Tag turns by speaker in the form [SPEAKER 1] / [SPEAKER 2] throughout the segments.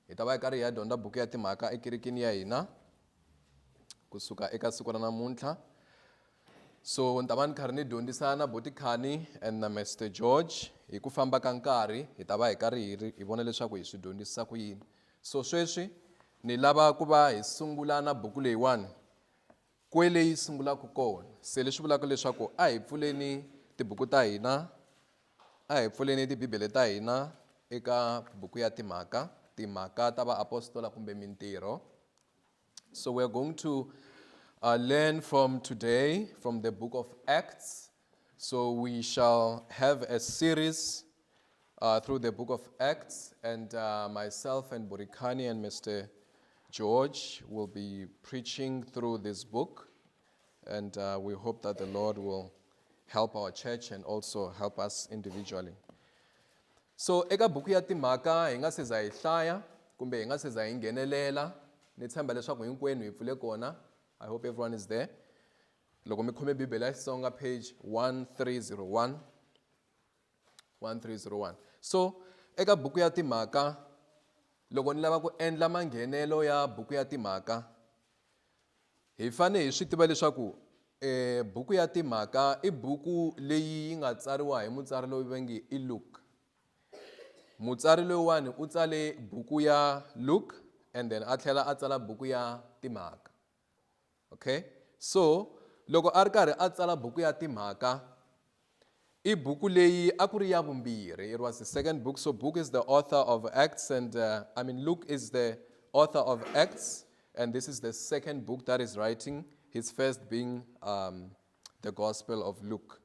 [SPEAKER 1] Hi ta va hi karhi hi ya dyondza buku ya timhaka ekerekeni ya hina kusuka eka siku ra namuntlha so ni ta va ni karhi ni dyondzisa na botikhani and na mester george hi ku famba ka nkarhi hi ta va hi karhi hi ri hi vona leswaku hi swi dyondzisa ku yini so sweswi ni lava ku va hi sungula na buku leyiwani Kwele yi sungulaka kona. Se leswi vulaka leswaku a hi pfuleni tibuku ta hina, a hi pfuleni tibibele ta hina eka buku ya timhaka, timhaka ta vaapostola kumbe mintirho. So we are going to uh, learn from today from the book of Acts So we shall have a series uh, through the book of Acts, and uh, myself and Burikani and Mr. George will be preaching through this book. And uh, we hope that the Lord will help our church and also help us individually. So eka buku ya timhaka hi nga se za hi hlaya kumbe hi nga se za hi nghenelela ni tshemba leswaku hinkwenu hi pfule kona i hope everyone is there Loko mi khome Bibele ya Xitsonga page 1301 1301 so eka buku ya timhaka loko ni lava ku endla manghenelo ya buku ya timhaka hi fane hi swi tiva leswaku e buku ya timhaka i buku leyi yi nga tsariwa hi mutsari loyi va nge i Luke mutsari loyiwani u tsale buku ya Luke and then a tlhela a tsala buku ya timhaka Okay so loko a ri karhi a tsala buku ya timhaka i buku leyi a ku ri ya vumbirhi it was the second book so book is the author of acts and uh, i mean luke is the author of acts and this is the second book that is writing his first being um, the gospel of luke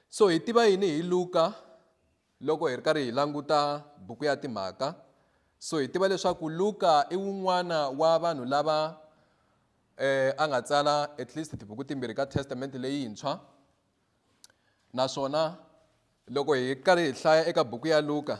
[SPEAKER 1] so hi tiva yini hi luka Loko hi ri karhi hi languta buku ya Timhaka, so hi tiva leswaku Luka i wun'wana wa vanhu lava eh, a nga tsala at least tibuku timbirhi ka Testamente leyintshwa naswona loko hi karhi hi hlaya eka buku ya Luka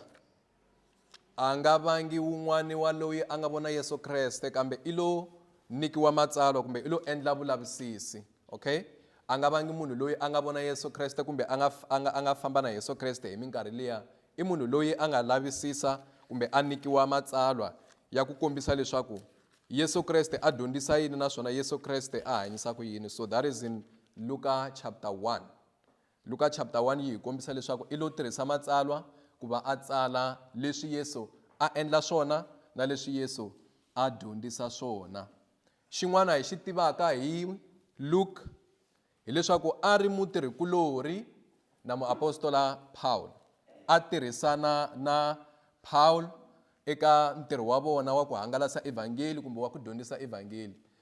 [SPEAKER 1] A nga vangi wun'wani wa loyi a nga vona Yesu Kreste kambe i lo nikiwa matsalwa kumbe i lo endla vulavisisi. Okay? A nga vangi munhu loyi a nga vona Yesu Kreste kumbe a nga, a nga, a nga famba na Yesu Kreste hi minkarhi liya i munhu loyi a nga lavisisa kumbe a nikiwa matsalwa ya ku kombisa leswaku Yesu Kreste a dyondzisa yini naswona Yesu Kreste a hanyisa ku yini. So that is in Luka chapter 1. Luka chapter 1 yi hi kombisa leswaku i lo tirhisa Matsalwa ku va a tsala leswi Yesu a endla swona na leswi Yesu a dyondzisa swona. Xin'wana hi xi tivaka hi Luka hi leswaku a ri mutirhi-kulorhi na muapostola Pawulo. A tirhisana na Pawulo eka ntirho wa vona wa ku hangalasa evhangeli kumbe wa ku dyondzisa evhangeli.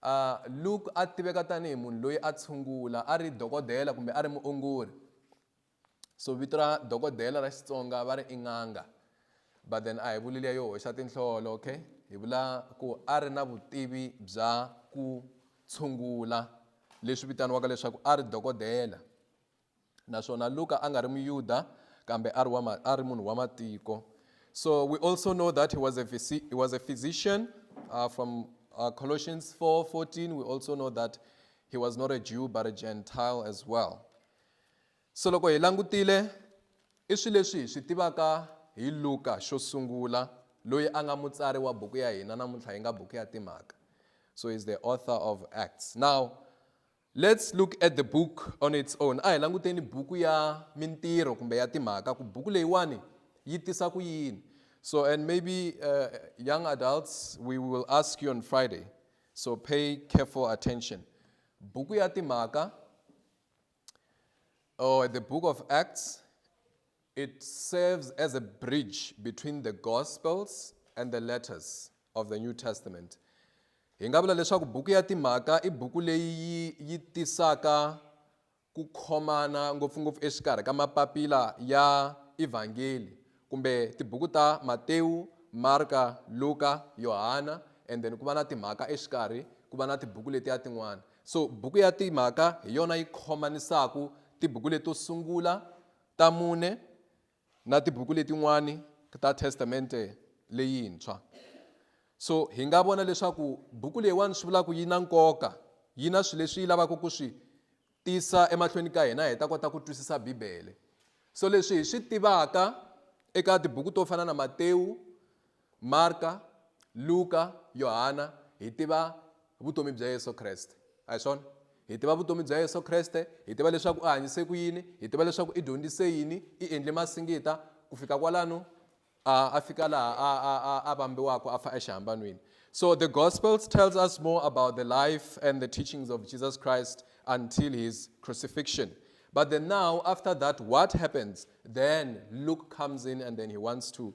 [SPEAKER 1] A Luke a tiveka tanihi munhu loyi a tshungula, a ri dokodela kumbe a ri muongori. So vito ra dokodela ra Xitsonga va ri i n'anga. But then a hi vuli liya yo hoxa tinhlolo, okay? Hi vula ku a ri na vutivi bya ku tshungula leswi vitaniwaka leswaku a ri dokodela. naswona Luka a nga ri Muyuda kambe a ri wa a ri munhu wa matiko. So we also know that he was a, he was a physician uh, from uh, Colossians 4 14. We also know that he was not a Jew but a Gentile as well. So loko hi langutile i swilo leswi hi swi tivaka hi Luka xo sungula loyi a nga mutsari wa buku ya hina namuntlha yi nga buku ya timhaka. So he's the author of Acts. Now Let's look at the book on its own. A hi languteni buku ya mintirho kumbe ya timhaka ku buku leyiwani yi tisa ku yini. So and maybe uh, young adults we will ask you on Friday. So pay careful attention. Buku ya timhaka or the book of Acts It serves as a bridge between the Gospels and the letters of the New Testament. Hi nga vula leswaku buku ya timhaka i buku leyi yi tisaka ku khomana ngopfungopfu exikarhi ka mapapila ya Evangeli kumbe tibuku ta Matewu, Marka, Luka, Yohana and then ku va na timhaka exikarhi ku va na tibuku letiya tin'wana. So buku ya timhaka hi yona yi khomanisaku tibuku leto sungula ta mune na tibuku letin'wani ta testamente leyintshwa so hi nga vona leswaku buku leyiwani swi vulaka yi na nkoka yi na swilo leswi yi lavaka ku swi tisa emahlweni ka hina hi ta kota ku twisisa bibele so leswi hi swi tivaka eka tibuku to fana na matewu Marka, Luka, Yohana, hi tiva vutomi bya Yesu Kreste. A hi swona? Hi tiva vutomi bya Yesu Kreste, hi tiva leswaku u hanyise ku yini, hi tiva leswaku i dyondzise yini, i endle masingita, ku fika kwalano a a fika laha a a a a vambiwaka a fa exihambanweni. So the Gospels tells us more about the life and the teachings of Jesus Christ until his crucifixion. But then now, after that, what happens? Then Luke comes in and then he wants to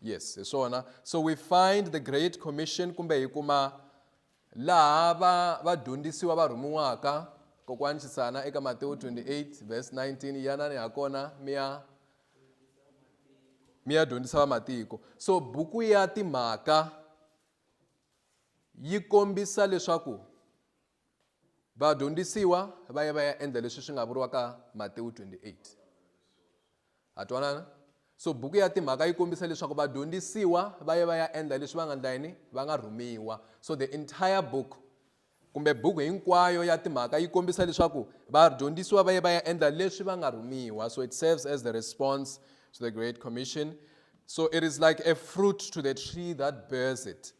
[SPEAKER 1] yes hi swona so we find the great commission kumbe hi kuma laha va vadyondzisiwa va rhumiwaka kokwani xisana eka matewu 28 verse 19 yanani ha kona mi ya mi ya dyondzisa vamatiko so buku ya timhaka yi kombisa leswaku Vadyondzisiwa va ye va ya endla leswi swi nga vuriwaka Matewu 28. Ha twanana? So buku ya timhaka yi kombisa leswaku vadyondzisiwa va ye va ya endla leswi va nga endla yini? Va nga rhumiwa. So the entire book kumbe buku hinkwayo ya timhaka yi kombisa leswaku vadyondzisiwa va ye va ya endla leswi va nga rhumiwa. So it serves as the response to the Great Commission. So it is like a fruit to the tree that bears it.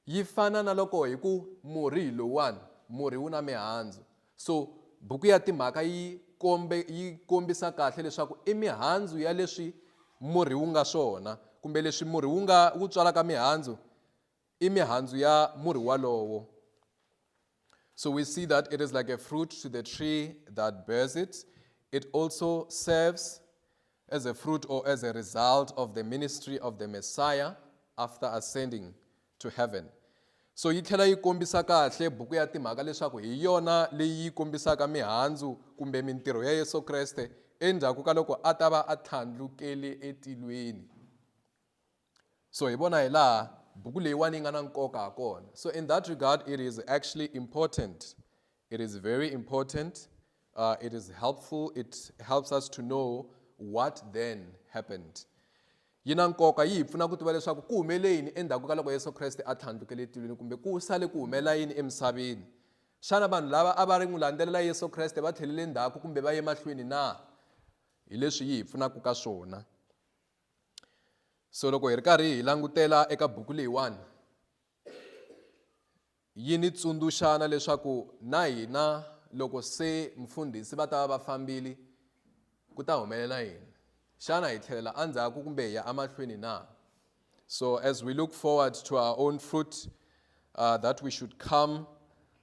[SPEAKER 1] Yi fana na loko hi ku murhi hi lowuwani, murhi wu na mihandzu. So buku ya Timhaka yi kombe yi kombisa kahle leswaku i mihandzu ya leswi murhi wu nga swona, kumbe leswi murhi wu nga wu tswalaka mihandzu i mihandzu ya murhi walowo. So we see that it is like a fruit to the tree that bears it. It also serves as a fruit or as a result of the ministry of the Messiah after ascending to heaven. So yi tlhela yi kombisa kahle buku ya timhaka leswaku hi yona leyi kombisaka mihandzu kumbe mintirho ya Yesu Kreste endzhaku ka loko a ta va a tlhandlukele etilweni. so hi vona hi laha buku leyiwani yi nga na nkoka ha kona so in that regard it is actually important it is very important uh, it is helpful it helps us to know what then happened yi na nkoka yi hi pfuna ku tiva leswaku ku humele yini endzhaku ka loko yesu kreste a tlhandlukele etilweni kumbe ku sale ku humelela yini emisaveni xana vanhu lava a va ri n'wi landzelela yesu kreste va tlhelele ndzhaku kumbe va ye mahlweni na hi leswi yi hi pfunaka ka swona so loko hi ri karhi hi langutela eka buku leyiwani yi ni tsundzuxana leswaku na hina loko se mfundhisi va ta va va fambile ku ta humelela yini xana hi tlhelela endzhaku kumbe hi ya emahlweni na so as we look forward to our own fruit uh, that we should come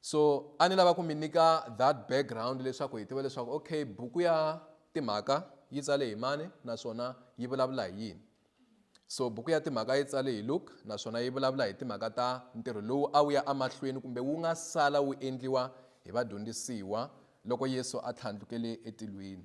[SPEAKER 1] so a ni lava ku mi nyika that background leswaku hi tiva leswaku okay buku ya timhaka yi tsale hi mani naswona yi vulavula hi yini so buku ya timhaka yi tsale hi luke naswona yi vulavula hi timhaka ta ntirho lowu a wu ya emahlweni kumbe wu nga sala wu endliwa hi vadyondzisiwa loko yesu a tlhandlukele etilweni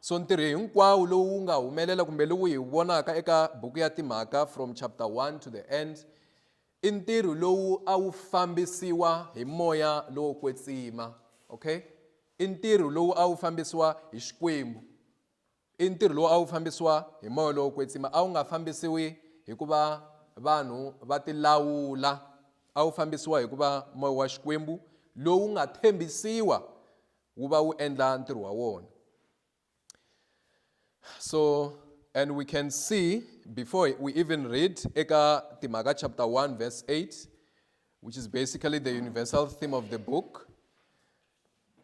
[SPEAKER 1] so ntirho hinkwawo lowu wu nga humelela kumbe lowu hi wu vonaka eka buku ya timhaka from chapter 1 to the end i ntirho lowu a wu fambisiwa hi moya lowo kwetsima okay i ntirho lowu a wu fambisiwa hi xikwembu i ntirho lowu a wu fambisiwa hi moya lowo kwetsima a wu nga fambisiwi hikuva vanhu va tilawula a wu fambisiwa hikuva moya wa xikwembu lowu nga tshembisiwa wu va wu endla ntirho wa wona so and we can see before we even read eka timhaka chapter 1 verse 8 which is basically the universal theme of the book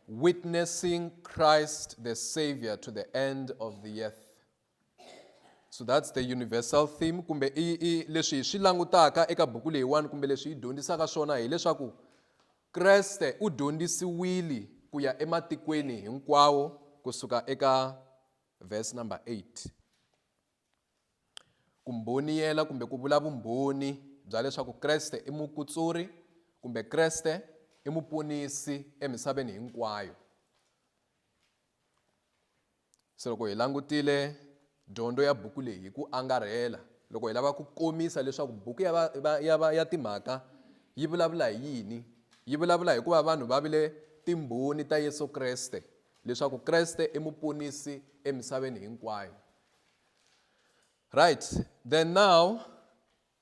[SPEAKER 1] witnessing christ the savior to the end of the earth so that's the universal theme kumbe i, i leswi hi swi langutaka eka buku leyiwani kumbe leswi yi dyondzisaka swona hileswaku kreste u dyondzisiwile ku ya ematikweni hinkwawo kusuka eka verse number 8 ku mboniyela kumbe ku vula vumbhoni bya leswaku kreste i mukutsuri kumbe kreste i muponisi emisaveni hinkwayo Se loko hi langutile dyondzo ya buku leyi hi ku angarhela, loko hi lava ku komisa leswaku buku ya, va, ya, va, ya Timhaka yi vulavula hi yini, yi vulavula hi ku va vanhu va vile timbhoni ta Yesu Kreste, leswaku Kreste i Muponisi emisaveni hinkwayo. Right, then now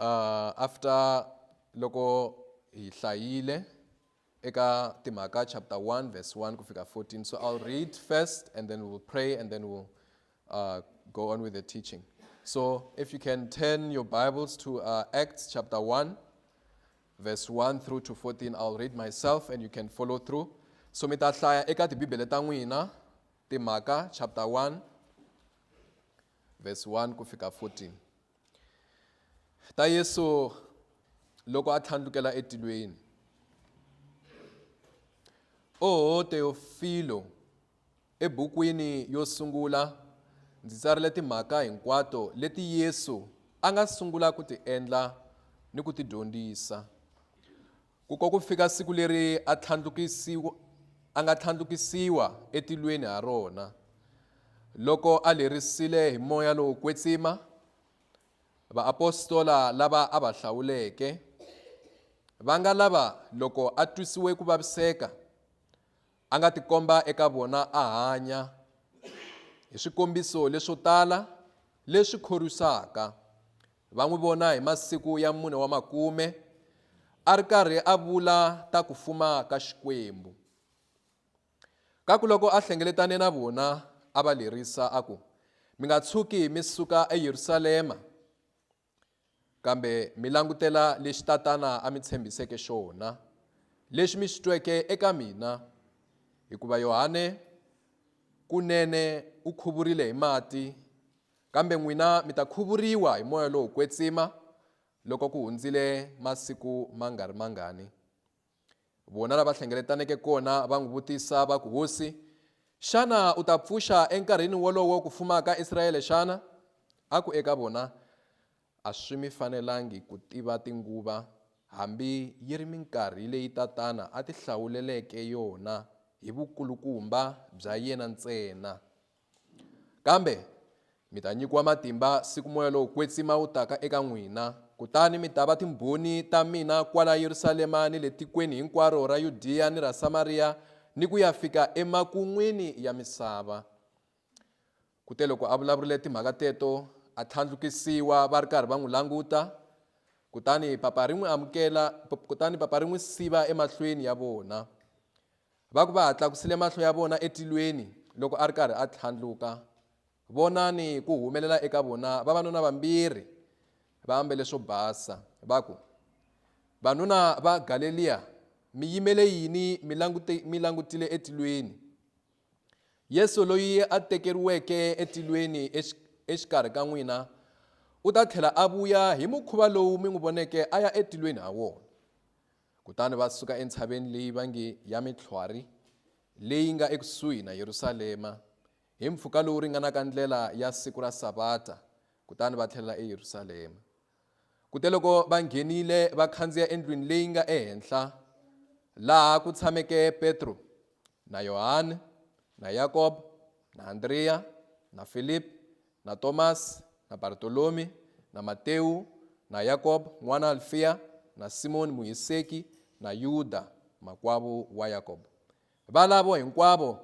[SPEAKER 1] Uh, after loko hi hlayile eka timhaka chapter 1 verse 1 ku fika 14 so i'll read first and then we'll pray and then we'll uh, go on with the teaching so if you can turn your bibles to uh, acts chapter 1 verse 1 through to 14 i'll read myself and you can follow through so mi ta hlaya eka tibibele ta n'wina timhaka chapter 1 verse 1 ku fika 14 ta yesu loko a tlhandlukela etilweni oho teofilo ebukwini yo sungula ndzi tsarile timhaka hinkwato leti yesu a nga sungula ku ti endla ni ku ti dyondzisa Ku ko ku fika siku leri a tlhandlukisiwa, a nga tlhandlukisiwa etilweni ha rona, loko a lerisile hi moya lowo kwetsima, vaapostola lava a va hlawuleke, va nga lava loko a twisiwe ku vaviseka, A nga tikomba eka vona a hanya hi swikombiso leswo tala leswi khorwisaka. Va n'wi vona hi masiku ya mune wa makume a ri karhi a vula ta ku fuma ka Xikwembu. Ka ku loko a hlengeletane na vona a va lerisa a ku, Mi nga tshuki mi suka eYerusalema. Kambe mi langutela lexi Tatana a mi tshembiseke xona, lexi mi xi tweke eka mina, hikuva Yohane kunene u khuvurile hi mati, kambe n'wina mi ta khuvuriwa hi moya lowo kwetsima loko ku hundzile masiku ma nga ri mangani. Vona la va hlengeletaneke kona va n'wi vutisa va ku, Hosi, xana u ta pfuxa enkarhini wolowo ku fuma ka Israele xana? A ku eka vona, A swi mi fanelangi ku tiva tinguva, hambi yi ri minkarhi leyi Tatana a ti hlawuleleke yona hi vukulukumba bya yena ntsena. Kambe mi ta nyikiwa matimba siku moya lowo kwetsima wu taka eka n'wina, kutani mi ta va timbhoni ta mina kwala Yerusalema ni le tikweni hinkwaro ra Yudiya ni ra Samariya ni ku ya fika emakun'wini ya misava. Kuteloko a vulavurile timhaka teto, a tlhandlukisiwa va ri karhi va n'wi languta, kutani papa ri n'wi amukela, kutani papa ri n'wi siva emahlweni ya vona. Va ku va ha tlakusile mahlo ya vona etilweni loko a ri karhi a tlhandluka, vonani ku humelela eka vona vavanuna vambirhi va ambele swo basa, va ku, Vanuna va Galeliya, mi yimele yini mi langute, mi langutile etilweni? Yesu loyi a tekeriweke etilweni exikarhi ka n'wina u ta tlhela a vuya hi mukhuva lowu mi n'wi voneke a ya etilweni ha wona. Kutani va suka entshaveni leyi va nge ya Mitlhwari, leyi nga ekusuhi na Yerusalema, hi mpfhuka lowu ringanaka ndlela ya siku ra Savata, kutani va tlhelela eYerusalema. Kuteloko va nghenile, va khandziya endlwini leyi nga ehenhla, laha ku tshameke Petro na Yohane na Yakobo na Andreya na Filipi na Thomas, na Bartolome, na Mateu, na Yakob n'wana Alfea, na Simoni Muhiseki, na Yuda makwavo wa Yakob. Valavo hinkwavo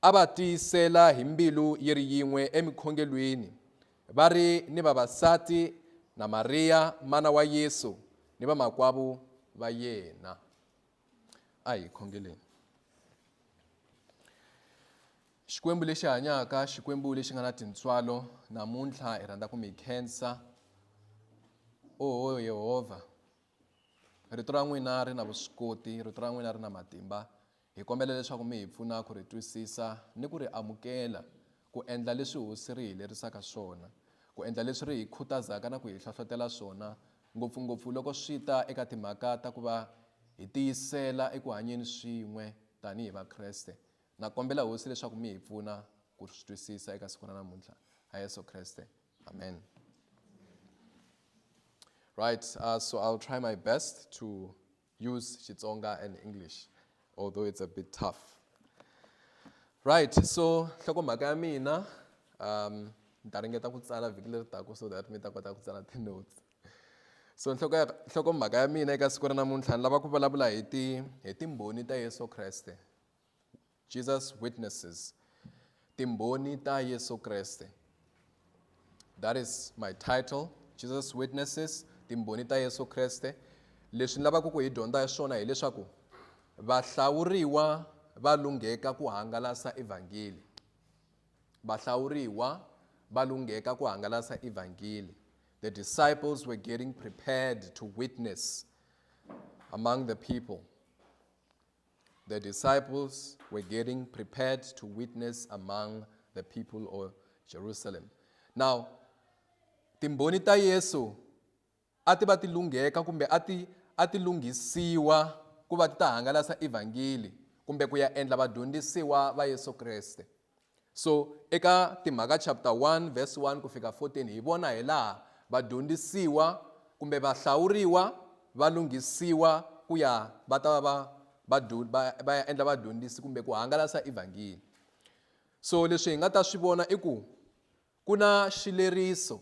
[SPEAKER 1] a va tiyisela hi mbilu yi ri yin'we emikhongelweni, va ri ni vavasati na Mariya mana wa Yesu ni vamakwavo va yena. A hi khongeleni. Xikwembu lexi hanyaka, Xikwembu lexi nga na tintswalo, namuntlha hi rhandza ku mi khensa. Oho Yehovha, rito ra n'wina ri na vuswikoti, rito ra n'wina ri na matimba. Hi kombela leswaku mi hi pfuna ku ri twisisa ni ku ri amukela. ku endla leswi Hosi ri hi lerisaka swona, ku endla leswi ri hi khutazaka na ku hi hlohlotela swona, ngopfu-ngopfu loko swi ta eka timhaka ta ku va hi tiyisela eku hanyeni swin'we tanihi Vakreste. Na kombela Hosi leswaku mi hi pfuna ku swi twisisa eka siku ra namuntlha. Ha Yesu Kreste. Amen. Right, uh, so I'll try my best to Use Xitsonga and English although it's a bit tough. Right, so nhlokomhaka ya mina um ni ta ringeta ku tsala vhiki leri taka so that mi ta kota ku tsala ti-notes so nhloko ya nhlokomhaka ya mina eka siku ra namuntlha ni lava ku vulavula hi ti hi timbhoni ta yesu kreste Jesus Witnesses, Timbhoni ta Yesu Kreste. That is my title, Jesus Witnesses, Timbhoni ta Yesu Kreste. Leswi ni lavaka ku hi dyondza hi swona hileswaku vahlawuriwa va lungheka ku hangalasa evhangeli. Vahlawuriwa va lungheka ku hangalasa evhangeli. The disciples were getting prepared to witness among the people. the disciples were getting prepared to witness among the people of Jerusalem. Now, timboni ta Yesu a ti va ti lungheka kumbe a ti a ti lunghisiwa ku va ti ta hangalasa evhangeli kumbe ku ya endla vadyondzisiwa va Yesu Kreste So eka Timhaka chapter 1 verse 1 ku fika 14 hi vona hi laha vadyondzisiwa kumbe vahlawuriwa va lunghisiwa ku ya va ta va va va va ya endla vadyondzisi kumbe ku hangalasa evhangeli so leswi hi nga ta swi vona i ku ku na xileriso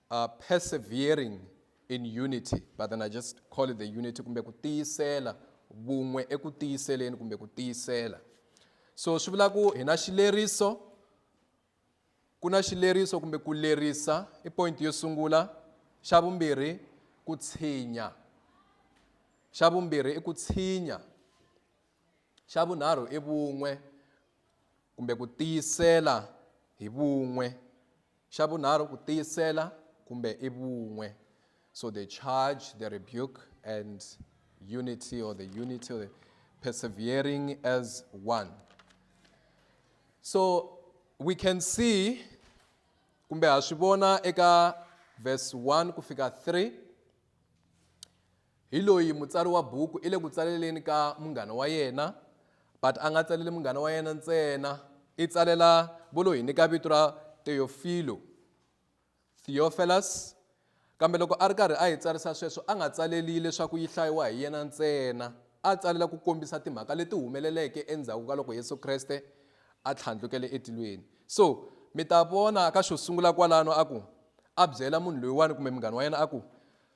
[SPEAKER 1] uh, persevering in unity but then i just call it the unity kumbe ku tiyisela vun'we eku tiyiseleni kumbe ku tiyisela so swi vula ku hi na xileriso ku na xileriso kumbe ku lerisa i point yo sungula xa vumbirhi ku tshinya xa vumbirhi i ku tshinya xa vunharhu i vun'we kumbe ku tiyisela hi vun'we Xa vunharhu ku tiyisela kumbe i vun'we. So the charge, the rebuke and unity or the unity or the persevering as one. So we can see kumbe ha swi vona eka verse 1 ku fika 3 Hi loyi mutsari wa buku i le ku tsaleleni ka munghana wa yena but a nga tsaleli munghana wa yena ntsena i tsalela vo lo hi nyika vito ra Teofilo Theophilus kambe loko a ri karhi a yi tsarisa sweswo a nga tsaleli leswaku yi hlayiwa hi yena ntsena a tsalela ku kombisa timhaka leti humeleleke endzhaku ka loko Yesu Kreste a tlhandlukele etilweni so mi ta vona ka xo sungula kwalano a ku a byela munhu loyiwani kumbe munghana wa yena a ku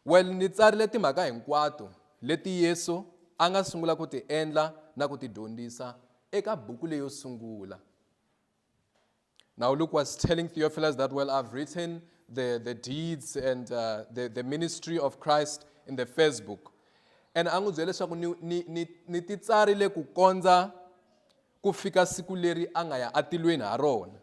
[SPEAKER 1] Well, ni tsarile timhaka hinkwato leti Yesu a nga sungula ku ti endla na ku ti dyondzisa eka buku leyo sungula. Now Luke was telling Theophilus that, well, I've written the, the deeds and uh, the, the ministry of Christ in the first book. And a n'wi byela leswaku ni, ni, ni, ni ti tsarile ku kondza ku fika siku leri a nga ya atilweni ha rona.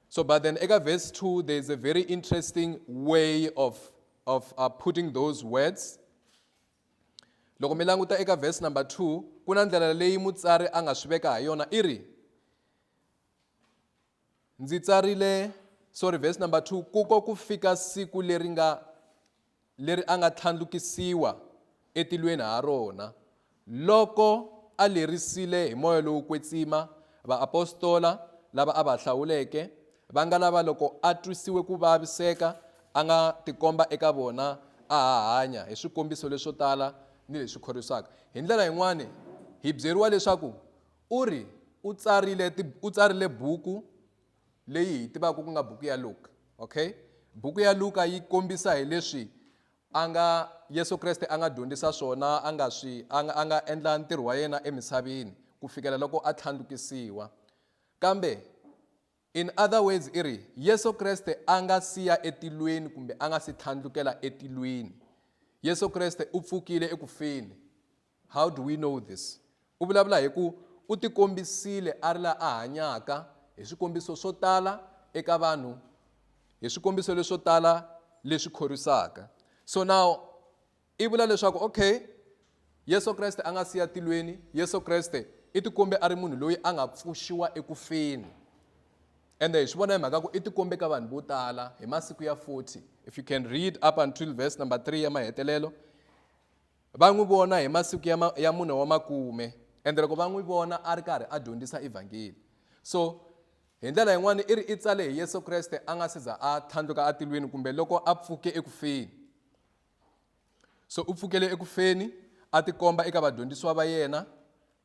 [SPEAKER 1] So, but then Ega verse 2, there's a very interesting way of, of uh, putting those words. loko mi languta eka verse number 2 ku na ndlela leyi mutsari a nga swi veka ha yona i ri ndzi tsarile sorry verse number 2 kuko ku fika siku leri nga leri a nga tlhandlukisiwa etilweni ha rona loko a lerisile hi moya lowo kwetsima vaapostola lava a va hlawuleke, va nga lava loko a twisiwe ku vaviseka a nga tikomba eka vona a ha hanya hi swikombiso leswo tala ni leswi khorwisaka. Hi ndlela yin'wana, hi byeriwa leswaku u ri u tsarile buku leyi hi tivaka ku nga buku ya luka okay buku ya luka yi kombisa hi leswi a nga yesu kreste a nga dyondzisa swona a nga swi a nga a nga endla ntirho wa yena emisaveni ku fikela loko a tlhandlukisiwa kambe in other words i ri yesu kreste a nga siya etilweni kumbe a nga si tlhandlukela etilweni yesu kreste u pfukile ekufeni How do we know this? U vulavula hi ku u tikombisile a ri la a hanyaka hi swikombiso swo tala eka vanhu, hi swikombiso leswo tala leswi khorwisaka. So now i vula leswaku okay, Yesu Kreste a nga siya tilweni, Yesu Kreste i tikombe a ri munhu loyi a nga pfuxiwa eku feni. Ende hi swi vona hi mhaka ku i tikombe ka vanhu vo tala hi masiku ya 40. If you can read up until verse number 3 ya mahetelelo. Va n'wi vona hi masiku ya, ma, ya mune wa makume, ende loko va n'wi vona a ri karhi a dyondzisa Evhangeli. So, hi ndlela yin'wana i ri i tsale hi Yesu Kreste a nga si za a tlhandluka atilwini kumbe loko a pfuke eku feni. So u pfukele eku feni, a tikomba eka vadyondzisiwa va yena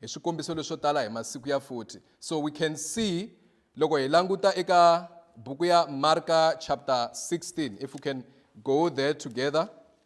[SPEAKER 1] hi swikombiso leswo tala hi masiku ya 40. So we can see loko hi languta eka buku ya Marka chapter 16, if we can go there together.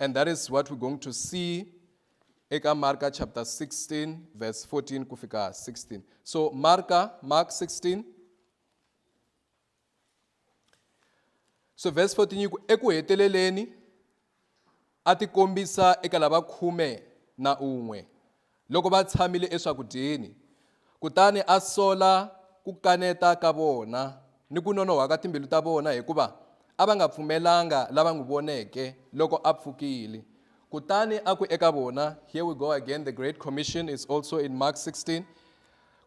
[SPEAKER 1] And that is what we're going to see eka Marka chapter 16 verse 14 ku fika 16. So Marka Mark 16 So verse 14 yiku eku heteleleni a ti kombisa eka lava khume na un'we Loko va tshamile eswakudyeni, kutani a sola ku kaneta ka vona ni ku nonohwa ka timbilu ta vona, hikuva a va nga pfumelanga lava n'wi voneke loko a pfukile. Kutani a ku eka vona, Here we go again, the Great Commission is also in Mark 16.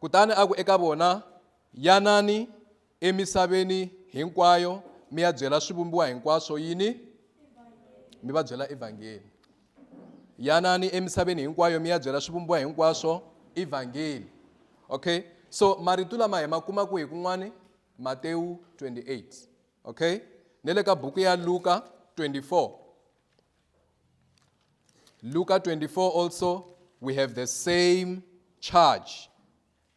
[SPEAKER 1] Kutani a ku eka vona, Yanani, emisaveni hinkwayo mi ya byela swivumbiwa hinkwaswo yini mi va byela evhangeli yanani emisaveni hinkwayo mi ya byela swivumbiwa hinkwaswo evhangeli okay so marito lama hi ma kuma kwihi kun'wani matewu 28 okay ne le ka buku ya luka 24 luka 24 also we have the same charge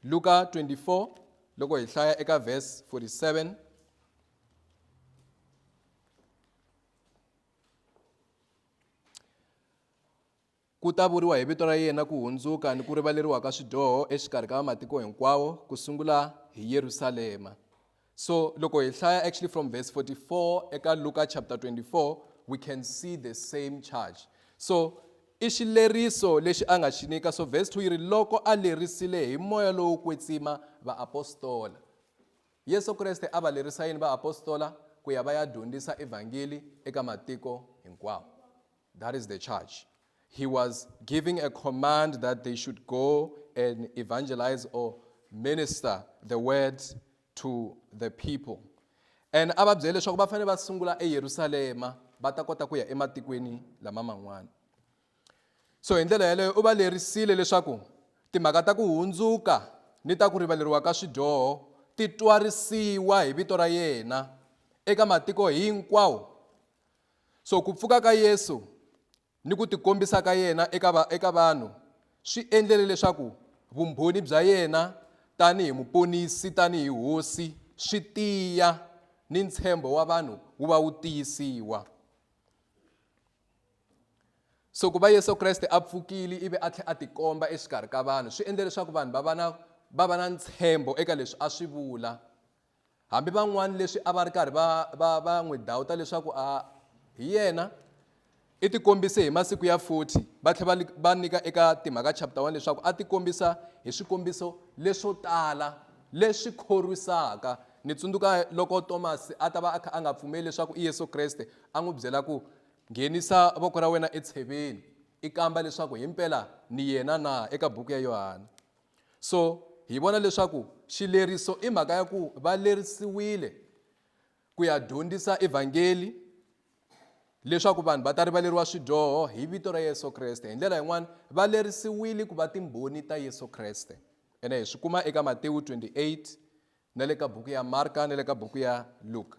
[SPEAKER 1] Luka 24 loko hi hlaya eka verse 47 ku ta vuriwa hi vito ra yena ku hundzuka ni ku rivaleriwa ka swidyoho exikarhi ka matiko hinkwawo ku sungula hi Yerusalema So loko hi hlaya actually from verse 44 eka Luka chapter 24 we can see the same charge. So i xileriso lexi a nga xi nyika so verse 2 yi ri loko a lerisile hi moya lowo kwetsima vaapostola yesu kreste a va lerisa yini vaapostola ku ya va ya dyondzisa evhangeli eka matiko hinkwawo that is the charge he was giving a command that they should go and evangelize or minister the word to the people and a va byele leswaku va fanele va sungula eyerusalema va ta kota ku ya ematikweni lama man'wana so hi ndlela yeleyo u va lerisile leswaku timhaka ta ku hundzuka ni ta ku rivaleriwa ka swidyoho ti twarisiwa hi vito ra yena eka matiko hinkwawo So ku pfuka ka Yesu ni ku tikombisa ka yena eka va, eka vanhu swi endlele leswaku vumbhoni bya yena tanihi muponisi tanihi hosi swi tiya ni ntshembo wa vanhu wu va wu tiyisiwa. So ku va Yesu Kreste a pfukile ivi a tlhe a tikomba exikarhi ka vanhu swi endle leswaku vanhu va va na va va na ntshembo eka leswi a swi vula Hambi van'wana leswi a va ri karhi va va va n'wi dawuta leswaku a hi yena, i tikombise hi masiku ya 40 va tlhela va va nyika eka Timhaka chapter 1 leswaku a tikombisa hi swikombiso leswo tala leswi khorwisaka. Nitsundzuka loko Tomasi a ta va a kha a nga pfumeli leswaku i Yesu Kreste, a n'wi byela ku, Nghenisa voko ra wena etsheveni, i kamba leswaku himpela ni yena na, eka buku ya Yohana. So, hi vona leswaku xileriso i mhaka ya ku va lerisiwile ku ya dyondzisa evhangeli leswaku vanhu va ta rivaleriwa swidyoho hi vito ra Yesu Kreste. Hi ndlela yin'wana va lerisiwile ku va timbhoni ta Yesu Kreste. Ene hi swi kuma eka Matewu 28 na le ka buku ya Marka na le ka buku ya Luka.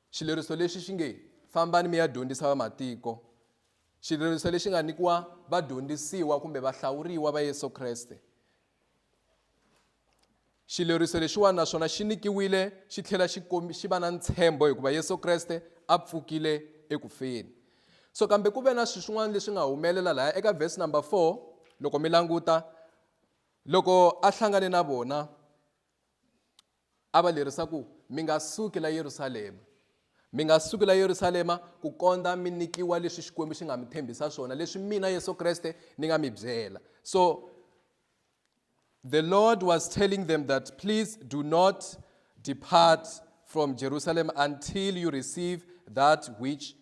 [SPEAKER 1] Xileriso lexi xi nge, Fambani mi ya dyondzisa vamatiko, xileriso lexi nga nyikiwa vadyondzisiwa kumbe vahlawuriwa va Yesu Kreste. Xileriso lexiwani naswona xi nyikiwile xi tlhela xi xi va na ntshembo hikuva Yesu Kreste a pfukile eku feni. So kambe ku ve na swilo swin'wana leswi nga humelela laya eka verse number 4 loko mi languta loko a hlangane na vona a va lerisa ku, Mi nga suki la Yerusalema. Mi nga suki la Yerusalema ku kondza mi nikiwa leswi Xikwembu xi nga mi tshembisa swona, leswi mina Yesu Kreste ni nga mi byela. So the Lord was telling them that please do not depart from Jerusalem until you receive that which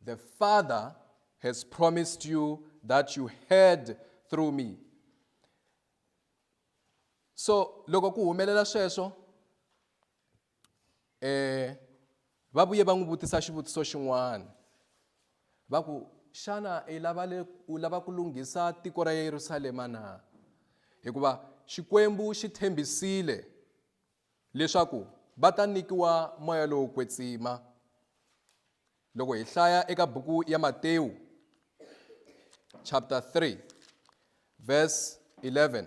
[SPEAKER 1] the Father has promised you that you heard through me. so loko ku humelela sweswo eh va vuye va n'wi vutisa xivutiso xin'wana va ku xana i lava le u lava ku lunghisa tiko ra Yerusalema na hikuva xikwembu xi tshembisile leswaku va ta nyikiwa moya lowo kwetsima Loko hi hlaya eka buku ya Matewu chapter 3 verse 11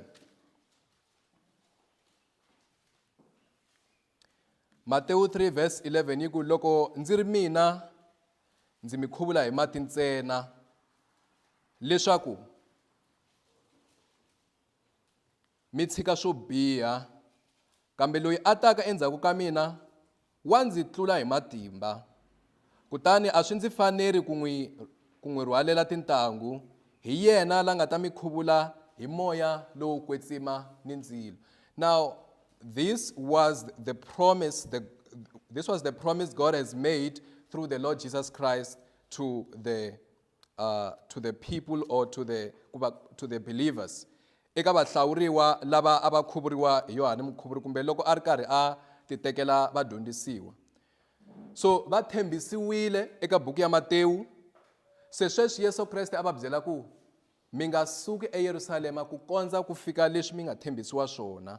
[SPEAKER 1] Matewu 3 verse 11 yi ku loko ndzi ri mina ndzi mi khuvula hi mati ntsena leswaku mi tshika swo biha, kambe loyi a taka endzhaku ka mina wa ndzi tlula hi matimba, kutani a swi ndzi faneri ku n'wi ku n'wi rhwalela tintangu, hi yena la nga ta mi khuvula hi moya lowo kwetsima ni ndzilo. Now this was the promise the this was the promise God has made through the Lord Jesus Christ to the uh, to the people or to the, to the believers eka vahlawuriwa lava a va khuvuriwa hi yohane mukhuvuri kumbe loko a ri karhi a titekela vadyondzisiwa so va tshembisiwile eka buku ya matewu se sweswi yesu kreste a va byela ku mi nga suki eyerusalema ku kondza ku fika leswi mi nga tshembisiwa swona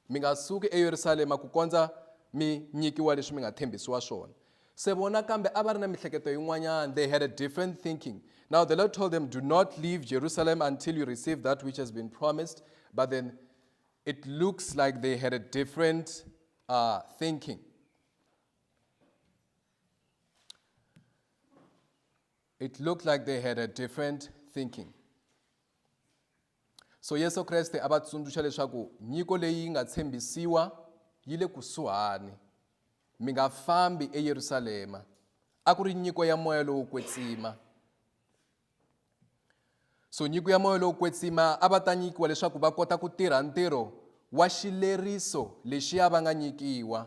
[SPEAKER 1] mi nga suki eyerusalema ku kondza mi nyikiwa leswi mi nga tshembisiwa swona se vona kambe a va ri na mihleketo yin'wanyana they had a different thinking now the lord told them do not leave jerusalem until you receive that which has been promised but then it looks like they had a different uh, thinking it looked like they had a different thinking So Yesu Kreste a va tsundzuxa leswaku nyiko leyi yi nga tshembisiwa yi le kusuhani. Mi nga fambi eYerusalema. A ku ri nyiko ya moya lowo kwetsima. So nyiko ya moya lowo kwetsima a va ta nyikiwa leswaku va kota ku tirha ntirho wa xileriso lexiya va nga nyikiwa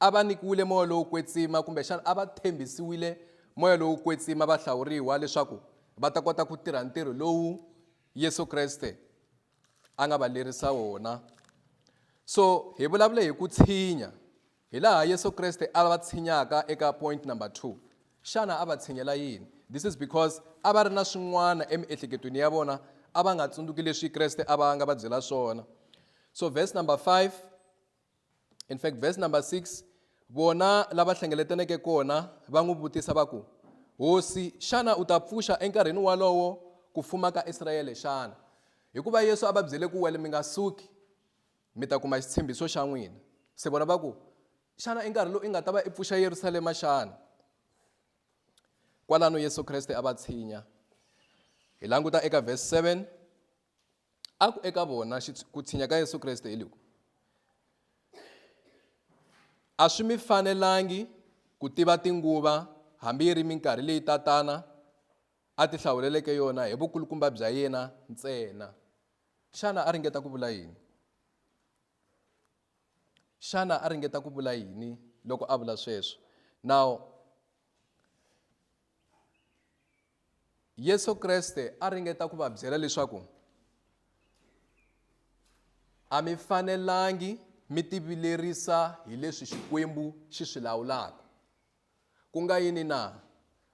[SPEAKER 1] A va nyikiwile moya lowo kwetsima, kumbexana a va tshembisiwile moya lowo kwetsima vahlawuriwa leswaku va ta kota ku tirha ntirho lowu Yesu Kreste a nga va lerisa wona. So hi vulavule hi ku tshinya hi laha Yesu Kreste a va tshinyaka eka point number two. Xana a va tshinyela yini? This is because a va ri na swin'wana emiehleketweni ya vona a va nga tsundzuki leswi Kreste a va nga va byela swona. So verse number five in fact verse number 6 vona lava hlengeletaneke kona va n'wi vutisa va ku hosi xana u ta pfuxa enkarhini walowo ku fuma ka israyele xana hikuva yesu a va byele ku wele mi nga suki mi ta kuma xitshembiso xa n'wina se vona va ku xana i nkarhi lowu i nga ta va i pfuxa yerusalema xana kwalano yesu kreste a va tshinya hi languta eka verse 7 a ku eka vona ku tshinya ka yesu kreste hi loku a swi mi fanelangi ku tiva tinguva hambi yi ri minkarhi leyi tatana a ti hlawuleleke yona hi vukulukumba bya yena ntsena xana a ringeta ku vula yini xana a ringeta ku vula yini loko a vula sweswo now Yesu Kreste a ringeta ku va byela leswaku a mi fanelangi mi tivilerisa hi leswi Xikwembu xi swi lawulaka. Ku nga yini na?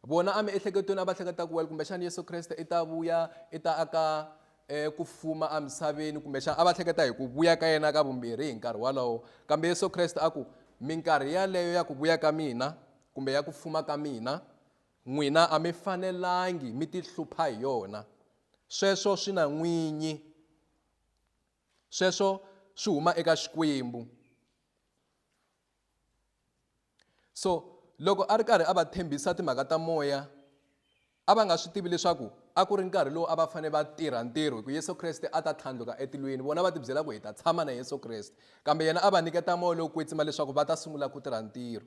[SPEAKER 1] Vona emiehleketweni a va hleketa ku wena kumbexana Yesu Kreste i ta vuya i ta aka eh, ku fuma emisaveni kumbexana a va hleketa hi ku vuya ka yena ka vumbirhi hi nkarhi wolowo kambe Yesu Kreste a ku minkarhi yaleyo ya ku vuya ka mina kumbe ya ku fuma ka mina N'wina a mi fanelangi mi tihlupha hi yona, sweswo swi na n'winyi, sweswo swi huma eka Xikwembu. So loko a ri karhi a va tshembisa timhaka ta moya, a va nga swi tivi leswaku a ku ri nkarhi lowu a va fanele va tirha ntirho hi ku Yesu Kreste a ta tlhandluka etilweni. Vona va tibyela ku hi ta tshama na Yesu Kreste, kambe yena a va nyiketa moya lowo kwetsima leswaku va ta sungula ku tirha ntirho.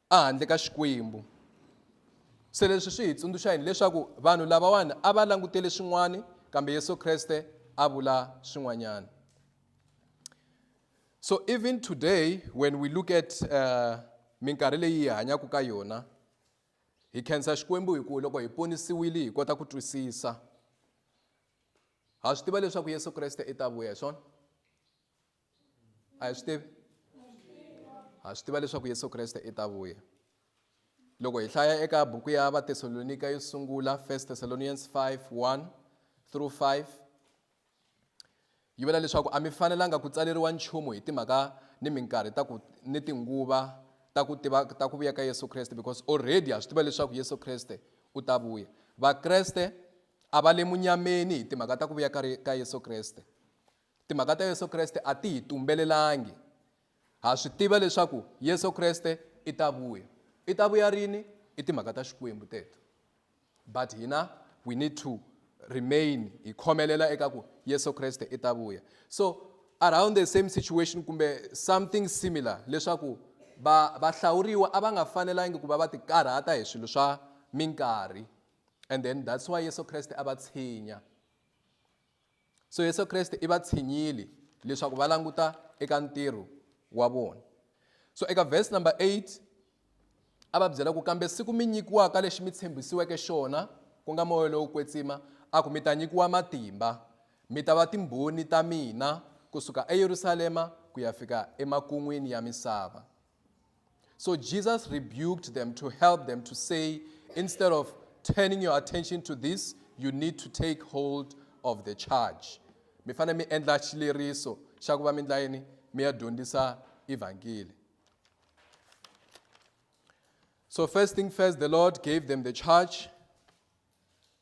[SPEAKER 1] ehandle ka Xikwembu. Se leswi swi hi tsundzuxa yini leswaku vanhu lavawani a va langutele swin'wana kambe Yesu Kreste a vula swin'wanyana. So even today when we look at uh, minkarhi leyi hi hanyaka ka yona hi khensa Xikwembu hi ku loko hi ponisiwile hi kota ku twisisa. Ha swi tiva leswaku Yesu Kreste i ta vuya hi swona. a hi swi tivi ha swi tiva leswaku yesu kreste i ta vuya loko hi hlaya eka buku ya vathesalonika yo sungula 1 thessalonians 5 1 through 5 yi vula leswaku a mi fanelanga ku tsaleriwa nchumu hi timhaka ni minkarhi ta ku ni tinguva ta ku tiva ta ku vuya ka yesu kreste because already ha swi tiva leswaku yesu kreste u ta vuya vakreste a va le munyameni hi timhaka ta ku vuya ka yesu kreste Timhaka ta Yesu Kreste a ti hi tumbelelangi. Ha swi tiva leswaku Yesu Kreste i ta vuya. I ta vuya rini? I timhaka ta Xikwembu teto. But hina we need to remain hi khomelela eka ku Yesu Kreste i ta vuya. So around the same situation kumbe something similar leswaku va vahlawuriwa a va nga fanelangi ku va va tikarhata hi swilo swa minkarhi and then that's why Yesu Kreste a va tshinya. so yesu kreste i va tshinyile leswaku va languta eka ntirho wa vona so eka verse number 8 a va byela ku kambe siku mi nyikiwaka lexi mi tshembisiweke xona ku nga moya lowo kwetsima a ku mi ta nyikiwa matimba mi ta va timbhoni ta mina kusuka eyerusalema ku ya fika emakun'wini ya misava So Jesus rebuked them to help them to say, instead of turning your attention to this, you need to take hold of the charge. Mi fanele mi endla xileriso xa ku va mi endla yini mi ya dyondzisa evhangeli. So first thing first, the Lord gave them the charge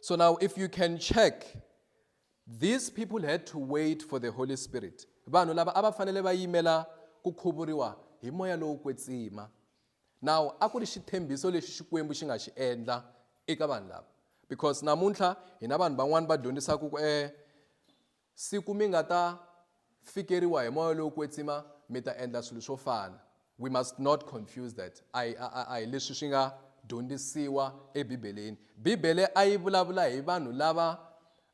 [SPEAKER 1] So now, if you can check, these people had to wait for the Holy Spirit. vanhu lava a va fanele va yimela ku khuvuriwa hi moya lowo kwetsima now a ku ri xitshembiso lexi xikwembu xi nga xi endla eka vanhu lava because namuntlha hina vanhu van'wani va dyondzisaka ku eh Siku mi nga ta fikeriwa hi moya lowo kwetsima, mi ta endla swilo swo fana. We must not confuse that. A hi, a, a, a hi leswi swi nga dyondzisiwa eBibeleni. Bibele a yi vulavula hi vanhu lava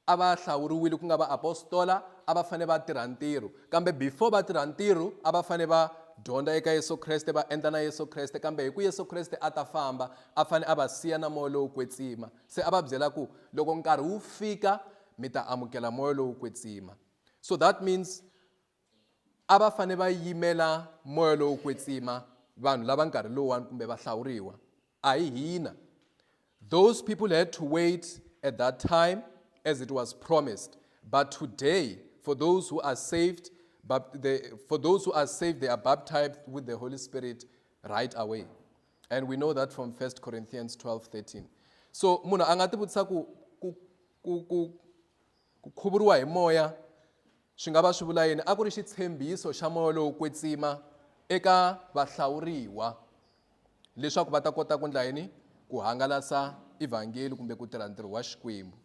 [SPEAKER 1] a va hlawuriwile ku nga vaapostola, a va fanele va tirha ntirho. Kambe before va tirha ntirho, a va fanele va dyondza eka Yesu Kreste, va endla na Yesu Kreste. Kambe hi ku Yesu Kreste a ta famba, a fanele a va siya na moya lowo kwetsima. Se a va byela ku loko nkarhi wu fika mi ta amukela moya lowo kwetsima so that means a va fanele va yimela moya lowo kwetsima vanhu lava nkarhi lowuwani kumbe va hlawuriwa a hi hina those people had to wait at that time as it was promised but today for those who are saved but the, for those who are saved they are baptized with the holy spirit right away and we know that from 1 corinthians 12 13 so munhu a nga tivutisa ku ku ku ku ku khuvuriwa hi moya swi nga va swi vula yini a ku ri xitshembiso xa moya lowo kwetsima eka vahlawuriwa leswaku va ta kota ku ndla yini ku hangalasa evhangeli kumbe ku tirha ntirho wa xikwembu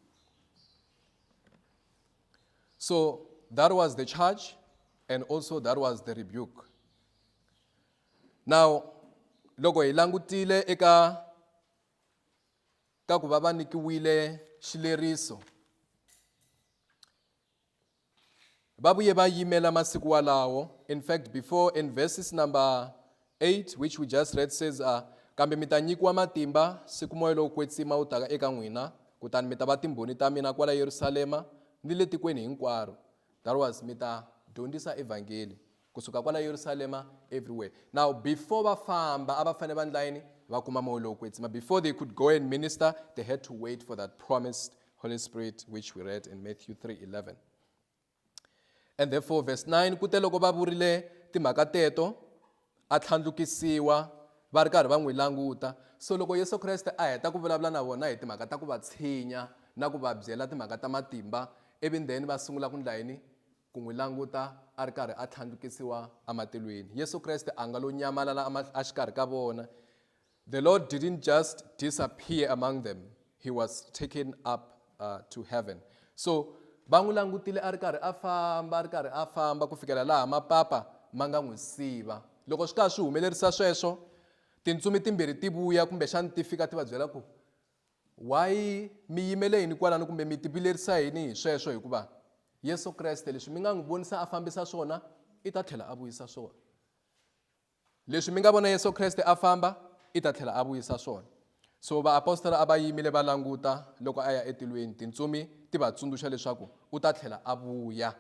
[SPEAKER 1] so that was the charge and also that was the rebuke now loko hi langutile eka ka ku va va nyikiwile xileriso va vuye va yimela masiku walawo in fact before in verses number 8 which we just read says uh, kambe mi ta nyikiwa matimba siku moya lowo kwetsima wu taka eka n'wina kutani mi ta va timbhoni ta mina kwala yerusalema ni le tikweni hinkwaro that was mi ta dyondzisa evhangeli Kusuka kwala Yerusalema everywhere. Now before va famba a va fane va ndla yini? Va kuma moya lowo kwetsima. Before they could go and minister, they had to wait for that promised Holy Spirit which we read in Matthew 3:11. And therefore verse 9 kute loko va vurile timhaka teto a tlhandlukisiwa va ri karhi va n'wi languta. So loko Yesu Kreste a heta ku vulavula na vona hi timhaka ta ku va tshinya na ku va byela timhaka ta matimba ivi then va sungula ku ndla yini? ku n'wi languta a ri karhi a tlhandlukisiwa ematilweni. Yesu Kreste a nga lo nyamalala exikarhi ka vona. The Lord didn't just disappear among them, he was taken up uh, to heaven. So va n'wi langutile a ri karhi a famba a ri karhi a famba ku fikela laha mapapa ma nga n'wi siva. Loko swi karhi swi humelerisa sweswo, tintsumi timbirhi ti vuya kumbexani ti fika ti va byela ku Why mi yimele yini kwalano kumbe mi tivilerisa yini hi sweswo hikuva Yesu Kreste leswi mi nga n'wi vonisa a fambisa swona i ta tlhela a vuyisa swona leswi mi nga vona Yesu Kreste a famba i ta tlhela a vuyisa swona so vaapostola a va yimile va languta loko a ya etilweni tintsumi ti va tsundzuxa leswaku u ta tlhela a vuya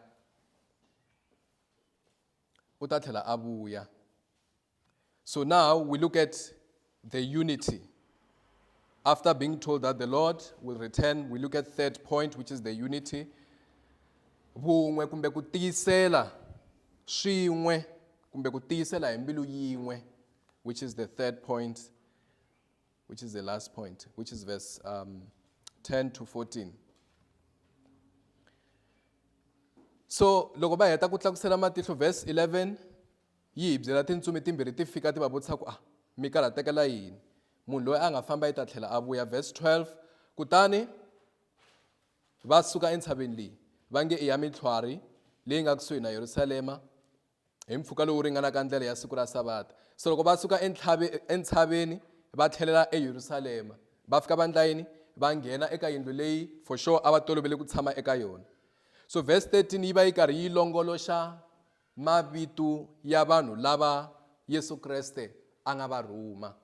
[SPEAKER 1] u ta tlhela a vuya So now we look at the unity. After being told that the Lord will return, we look at third point, which is the unity. Vun'we kumbe ku tiyisela swin'we kumbe ku tiyisela hi mbilu yin'we, which is the third point, which is the last point, which is verse um, 10 to 14. So loko ba heta ku tlakusela matihlo verse 11 Yi hi byela, Tintsumi timbirhi ti fika ti va vutisa ku, A mi karhatekela yini? Munhu loyi a nga famba i ta tlhela a vuya. Verse 12, Kutani va suka entshaveni leyi, va nge i ya mintlhwari leyi nga kusuhi na Yerusalema hi mpfhuka lowu ringanaka ndlela ya siku ra Savata. Se loko va suka entshaveni va tlhelela eYerusalema, va fika va endla yini? Va nghena eka yindlu leyi for sure a va tolovele ku tshama eka yona. So verse 13 yi va yi karhi yi longoloxa Mavito ya vanhu lava Yesu Kreste a nga va rhuma.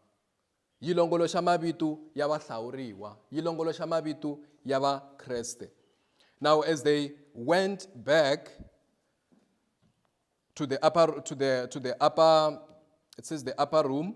[SPEAKER 1] Yi longoloxa mavito ya vahlawuriwa. Yi longoloxa mavito ya Vakreste. Now as they went back to the upper, to the, to the upper, it says the upper room,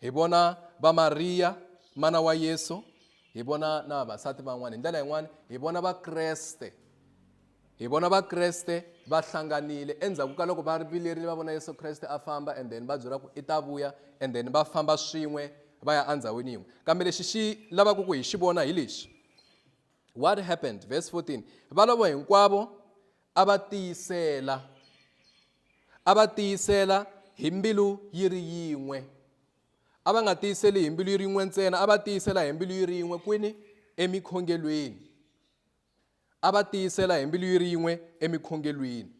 [SPEAKER 1] Hi vona va Mariya mana wa Yesu, hi vona na vasati van'wana. Hi ndlela yin'wana hi vona Vakreste, hi vona Vakreste va hlanganile endzhaku ka loko va vilerile va vona Yesu Kreste a famba and then va byela ku i ta vuya and then va famba swin'we va ya endhawini yin'we. Kambe lexi xi lavaka ku hi xi vona hi lexi, what happened verse 14 valavo hinkwavo a va tiyisela, a va tiyisela hi mbilu yi ri yin'we. A va nga tiyiseli hi mbilu yi ri yin'we ntsena, a va tiyisela hi mbilu yi ri yin'we kwini? Emikhongelweni. A va tiyisela hi mbilu yi ri yin'we emikhongelweni.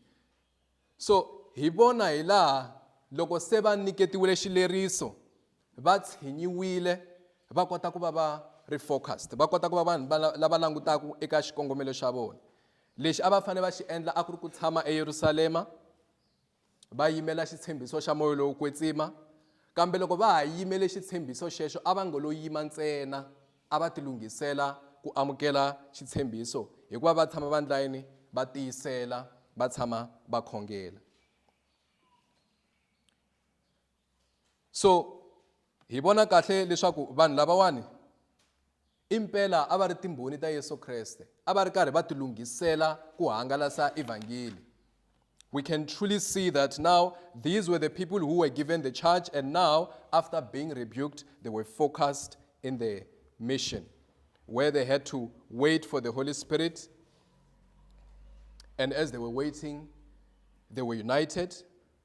[SPEAKER 1] So hi vona hi laha loko se va nyiketiwile xileriso va tshinyiwile va kota ku va va ri focused va kota ku va vanhu lava langutaka eka xikongomelo xa vona lexi a va fanele va xi endla a ku ri ku tshama eyerusalema va yimela xitshembiso xa moya lowo kwetsima kambe loko va ha yimele xitshembiso xexo a va ngo lo yima ntsena a va tilunghisela ku amukela xitshembiso hikuva va tshama vandlayini va tiyisela va tshama va khongela so hi vona kahle leswaku vanhu lavawani impela a va ri timbhoni ta yesu kreste a va ri karhi va tilunghisela ku hangalasa evhangeli we can truly see that now these were the people who were given the charge and now after being rebuked they were focused in the mission where they had to wait for the holy spirit and as they were waiting they were united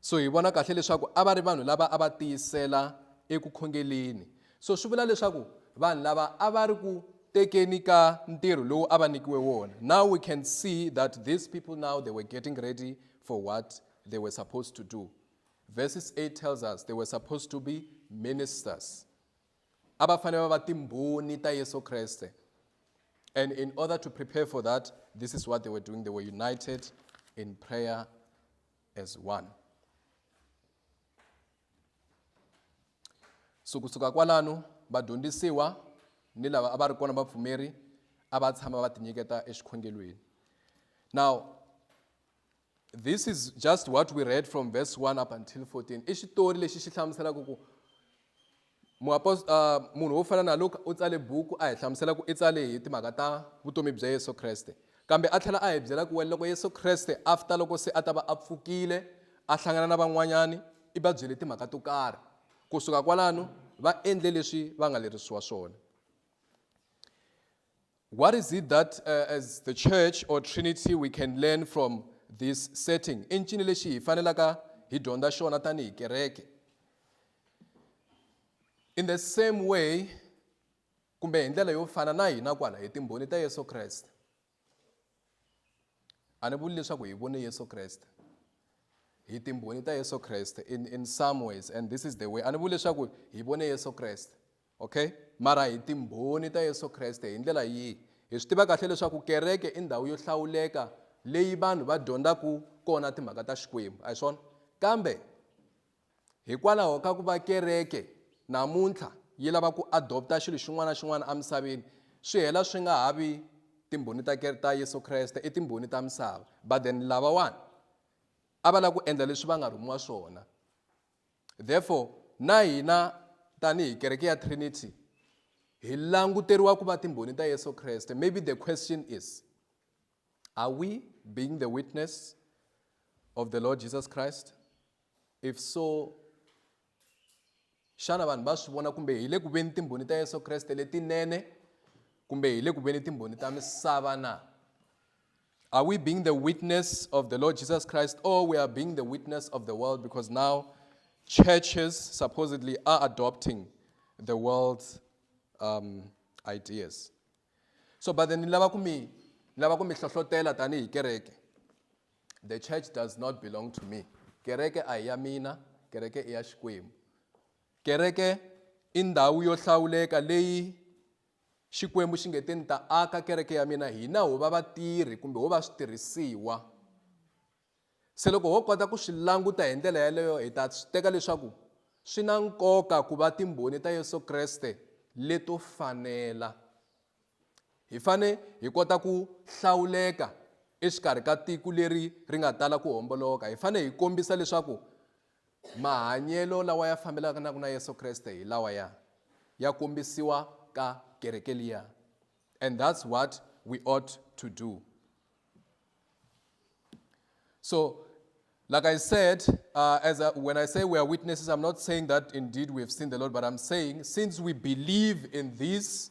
[SPEAKER 1] So hi vona kahle leswaku a va ri vanhu lava a va tiyisela eku khongeleni. So swi vula leswaku vanhu lava a va ri ku tekeni ka ntirho lowu a va nikiwe wona. Now we can see that these people now they were getting ready for what they were supposed to do. Verses 8 tells us they were supposed to be ministers. A va fanele va va timbhoni ta Yesu Kreste. And in order to prepare for that, this is what they were doing. They were united in prayer as one. So kusuka kwalano vadyondzisiwa ni lava a va ri kona vapfumeri a va tshama va tinyiketa exikhongelweni. Now this is just what we read from verse 1 up until 14 i xitori lexi xi hlamuselaka ku Muapost, uh, munhu wo fana na Luka u tsale buku a hi hlamusela ku i tsale hi timhaka ta vutomi bya Yesu Kreste. Kambe a tlhela a hi byela ku loko Yesu Kreste after loko se a ta va a pfukile a hlangana na van'wanyani i va byele timhaka to karhi. Ku suka kwalano va endle leswi va nga lerisiwa swona. What is it that uh, as the church or Trinity we can learn from this setting? I ncini lexi hi fanelaka hi dyondza xona tanihi kereke? In the same way, kumbe hi ndlela yo fana na hina kwala hi timbhoni ta Yesu Kreste. A ni vuli leswaku hi vone Yesu Kreste. Hi timbhoni ta Yesu Kreste in, in some ways and this is the way. A ni vuli leswaku hi vone Yesu Kreste. Okay, mara hi Timbhoni ta Yesu Kreste hi ndlela yihi? Hi swi tiva kahle leswaku kereke i ndhawu yo hlawuleka leyi vanhu va dyondzaka kona timhaka ta Xikwembu, a hi swona? Kambe hikwalaho ka ku va kereke namuntlha yi lava ku adopta xilo xin'wana na xin'wana emisaveni, swi hela swi nga ha vi Timbhoni ta ta Yesu Kreste, i timbhoni ta misava. But then lavawani a va lava ku endla leswi va nga rhumiwa swona. Therefore, na hina tanihi kereke ya Trinity hi languteriwa ku va timbhoni ta Yesu Kreste. Maybe the question is, are we being the witness of the Lord Jesus Christ? If so, xana vanhu va swi vona kumbe hi le ku veni timbhoni ta Yesu Kreste letinene kumbe hi le ku veni timbhoni ta misava na? Are we being the witness of the Lord Jesus Christ or we are being the witness of the world because now churches supposedly are adopting the world's um, ideas? So, but then lava kumi lava kumi hlohlotela tani kereke. The church does not belong to me. Kereke ayamina, kereke iya Kereke indawu yo hlawuleka leyi Xikwembu xi nge te ni ta aka kereke ya mina hina ho va vatirhi kumbe ho va switirhisiwa. Se loko ho kota ku swi languta hi ndlela yaleyo hi ta swi teka leswaku swi na nkoka ku va timbhoni ta Yesu Kreste leto fanela. Hi fane hi kota ku hlawuleka exikarhi ka tiko leri ri nga tala ku homboloka. Hi fane hi kombisa leswaku Mahanyelo lawa ya fambelanaka na Yesu Kreste hi lawa ya ya kombisiwa ka kereke liya. And that's what we ought to do. So, like I said, uh, as I, when I say we are witnesses, I'm not saying that indeed we have seen the Lord, but I'm saying since we believe in this,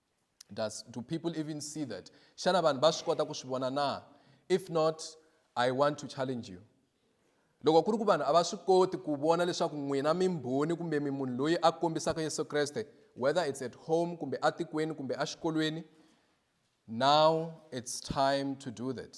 [SPEAKER 1] Does, do people even see that? Xana vanhu va swi kota ku swi vona na? If not, I want to challenge you. Loko ku ri ku vanhu a va swi koti ku vona leswaku n'wina mimbhoni kumbe mi munhu loyi a kombisaka Yesu Kreste, whether it's at home kumbe atikweni kumbe axikolweni, now it's time to do that.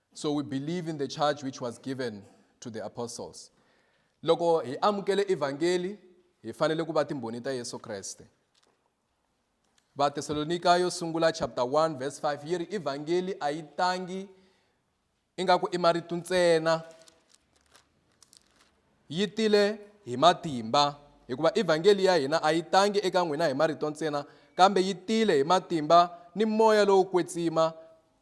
[SPEAKER 1] so we believe in the charge which was given to the apostles loko hi amukele evhangeli hi fanele ku va timbhoni ta yesu kreste vatesalonika yo sungula chapter 1 verse 5 yi ri evhangeli a yi tangi ingaku i marito ntsena yi tile hi matimba hikuva evhangeli ya hina a yi tangi eka n'wina hi marito ntsena kambe yi tile hi matimba ni moya lowo kwetsima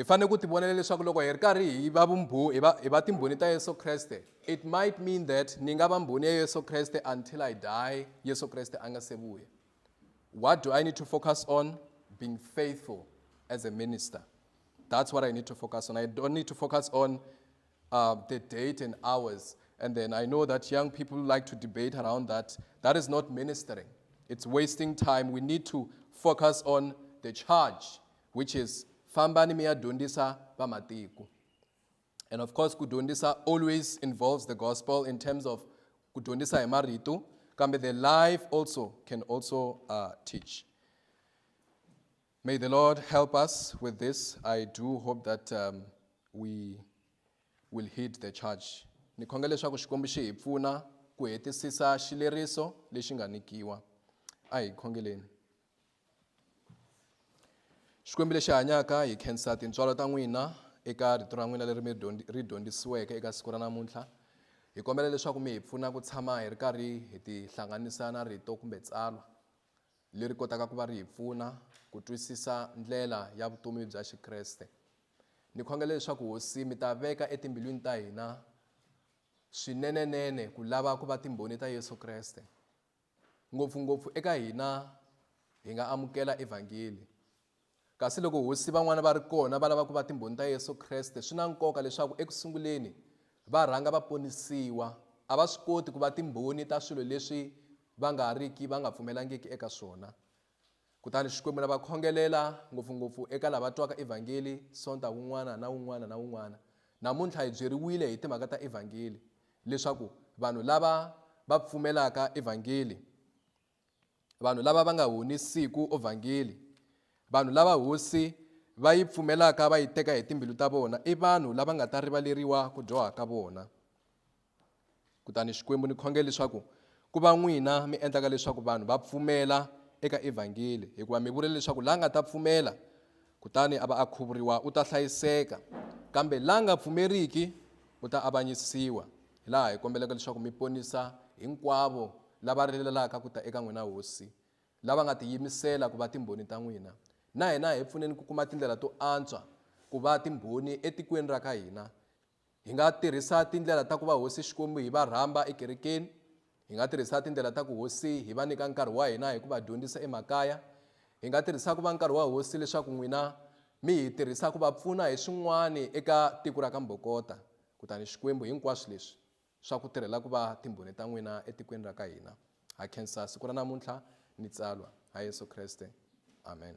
[SPEAKER 1] Hi fanele ku tivonela leswaku loko hi ri karhi hi va vumbhu, hi va, hi va timbhoni ta Yesu Kreste, it might mean that ni nga va mbhoni ya Yesu Kreste until I die, Yesu Kreste a nga se vuya. What do I need to focus on? Being faithful as a minister. That's what I need to focus on. I don't need to focus on uh, the date and hours. And then I know that young people like to debate around that. That is not ministering, it's wasting time. We need to focus on the charge which is fambani mi ya dyondzisa vamatiko and of course ku dyondzisa always involves the gospel in terms of ku dyondzisa hi marito kambe the life also can also uh, teach may the lord help us with this i do hope that um, we will heed the charge ni khonga leswaku xikwembu xi hi pfuna ku hetisisa xileriso lexi nga nikiwa a hi khongeleni xikwembu lexi hanyaka hi khensa tintswalo ta n'wina eka rito ra n'wina leri mi ri dyondzisiweke eka siku ra namuntlha hi kombela leswaku mi hi pfuna ku tshama hi ri karhi hi tihlanganisa na rito kumbe tsalwa leri kotaka ku va ri hi pfuna ku twisisa ndlela ya vutomi bya xikreste ni khongela leswaku hosi mi ta veka etimbilwini ta hina swinenenene ku lava ku va timbhoni ta yesu kreste Ngopfu-ngopfu eka hina, hi nga amukela Evhangeli. Kasi loko hosi van'wana va ri kona va lava ku va Timbhoni ta Yesu Kreste, swi na nkoka leswaku eku sunguleni va rhanga va ponisiwa. A va swi koti ku va timbhoni ta swilo leswi va nga riki va nga pfumelangiki eka swona. Kutani Xikwembu na va khongelela, ngopfu-ngopfu eka lava twaka Evhangeli Sonta wun'wana na wun'wana na wun'wana. Namuntlha hi byeriwile hi timhaka ta Evhangeli, leswaku vanhu lava va pfumelaka Evhangeli, vanhu lava va nga honisiku Ovhangeli, vanhu lava Hosi va yi pfumelaka va yi teka hi timbilu ta vona, i vanhu lava nga ta rivaleriwa ku dyoha ka vona. Kutani Xikwembu ni khongela leswaku ku va n'wina mi endlaka leswaku vanhu va pfumela eka evhangeli hikuva mi vule leswaku la nga ta pfumela kutani a va a khuvuriwa u ta hlayiseka kambe la nga pfumeriki u ta avanyisiwa hi laha hi kombelaka leswaku mi ponisa hinkwavo lava rilalaka ku ta eka n'wina hosi lava nga tiyimisela ku va timbhoni ta n'wina na hina hi pfuneni ku kuma tindlela to antswa ku va timbhoni etikweni ra ka hina Hi nga tirhisa tindlela ta ku va Hosi Xikwembu hi va rhamba ekerekeni. Hi nga tirhisa tindlela ta ku Hosi hi va nyika nkarhi wa hina hi ku va dyondzisa emakaya. Hi nga tirhisa ku va nkarhi wa Hosi leswaku n'wina mi hi tirhisa ku va pfuna hi swin'wana eka tiko ra ka Mbokota. Kutani Xikwembu hinkwaswo leswi swa ku tirhela ku va timbhoni ta n'wina etikweni ra ka hina. Ha khensa siku ra namuntlha ni tsalwa. Ha Yesu Kreste. Amen.